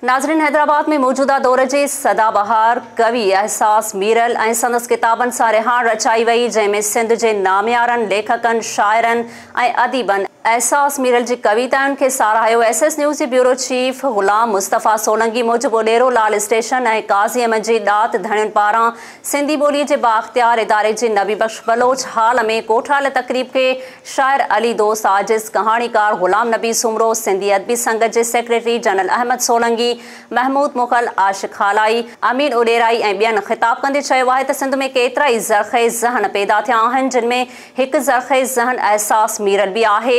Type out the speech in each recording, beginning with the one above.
ناظرين حيدرآباد ۾ موجوده دور جي سدا بهار ڪوي احساس ميرل ۽ سندس ڪتابن سان رهاڻ رچائي وئي جنهن ۾ سنڌ جي ناميارن ليکڪن شاعرن ۽ اديبن احساس ميرل جي ڪويتائن کي ساراهيو ايس ايس نيوز جي بيورو چيف غلام مصطفيٰ سولنگي موجب اڏيرو لال اسٽيشن ۽ قاضي احمد جي ڏات ڌڻين پاران سنڌي ٻولي جي بااختيار اداري جي نبي بخش بلوچ هال ۾ ڪوٺايل تقريب کي شاعر علي دوست عاجز، ڪهاڻيڪار غلام نبي سومرو، سنڌي ادبي سنگت جي سيڪريٽري جنرل احمد سولنگي، محمود مغل، عاشق هالائي، امين اڏيرائي ۽ ٻين خطاب ڪندي چيو آهي ته سنڌ ۾ ڪيترائي زرخيز ذهن پيدا ٿيا آهن جن ۾ هڪ زرخيز ذهن احساس ميرل به آهي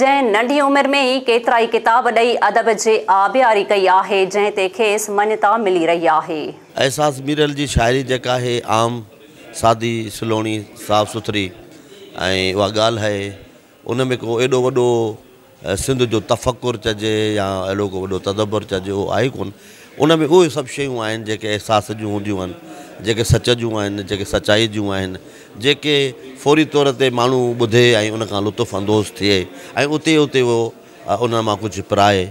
جنهن ننڍي عمر ۾ ئي ڪيترائي ڪتاب ڏئي ادب جي آبياري ڪئي آهي جنهن تي کيس مڃتا ملي رهي آهي. احساس ميرل جي شاعري جيڪا آهي عام سادي، سلوڻي، صاف سٿري ۽ اها ڳالهه آهي ان ۾ ڪو ايڏو وڏو سنڌ جو تفڪر چئجي يا اهڙو ڪو وڏو تدبر چئجي اهو آهي ڪونه ان ۾ اهي سڀ شيون آهن جيڪي احساس جون هونديون آهن جيڪي سچ جون آهن جيڪي سچائي جون آهن جيڪي فوري طور تي ماڻهو ٻڌي ۽ ان کان لطف اندوز ٿئي ۽ اتي اتي هو ان مان ڪجهه پرائي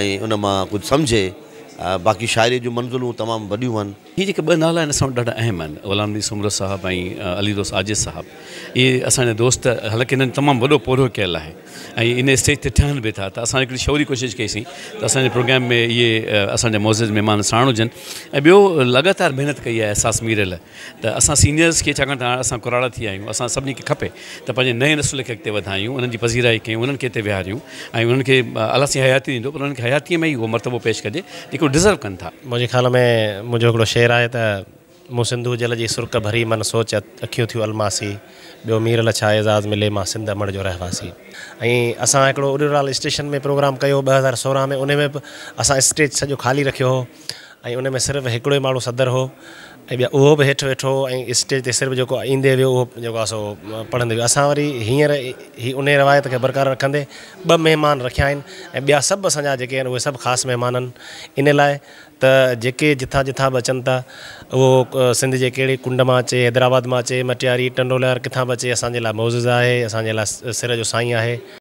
۽ ان مان ڪجهه سمجهي باقي شاعري جون منزلون تمام وڏيون آهن هي جيڪي ٻه نالا آهن اسان وٽ ڏاڍا اهم آهن غلام نبي سومرو صاحب ۽ علي دوست عاجز صاحب اهي اسان جا دوست حالانڪه هنن تمام وڏو پورهيو ڪيل آهي ۽ ان اسٽيج تي ٺهن به ٿا ته اسان هڪڙي شعوري ڪوشش ڪئي سين ته اسان جي پروگرام ۾ اهي اسان جا معزز مهمان ساڻ هجن ۽ ٻيو لڳاتار محنت ڪئي آهي احساس ميرل ته اسان سينيئرز کي ڇاڪاڻ ته اسان ڪراڙا ٿي آهيون اسان سڀني کي کپي ته پنهنجي نئين نسل کي اڳتي وڌايون، انهن جي پذيرائي ڪيون، انهن کي هتي ويهاريون ۽ انهن کي الله سائين حياتي ڏيندو پر انهن کي حياتيء ۾ ئي اهو مرتبو پيش ڪجي جيڪو ڊزرو ڪن ٿا. منهنجي خيال ۾ منهنجو هڪڙو شعر آهي ته، مون سنڌو جل جي سرڪ ڀري من سوچ اکيون ٿيون الماسي ٻيو مير لا ڇا اعزاز ملي مان سنڌ امڙ جو رهواسي ۽ اسان هڪڙو اڏيورال اسٽيشن ۾ پروگرام ڪيو ٻه هزار سورهن ۾ انهي ۾ به اسان اسٽيج سڄو خالي رکيو هو ۽ ان ۾ صرف هڪڙو ئي ماڻهو صدر هو ۽ ٻيا اهو به هيٺ ويٺو هو ۽ اسٽيج تي صرف جيڪو ايندي ويو اهو جيڪو آهي سو پڙهندي ويو اسان وري هينئر هي ان روايت کي برقرار رکندي ٻه مهمان رکيا آهن ۽ ٻيا سڀ اسان جا جيڪي آهن اهي سڀ خاص مهمان آهن ان لاء ته جيڪي جتان جتان به اچن ٿا اهو سنڌ جي ڪهڙي ڪنڊ مان اچي حيدرآباد مان اچي مٽياري ٽنڊو الهيار ڪٿان به اچي اسان جي لاء معزز آهي اسان جي لاء سر جو سائين آهي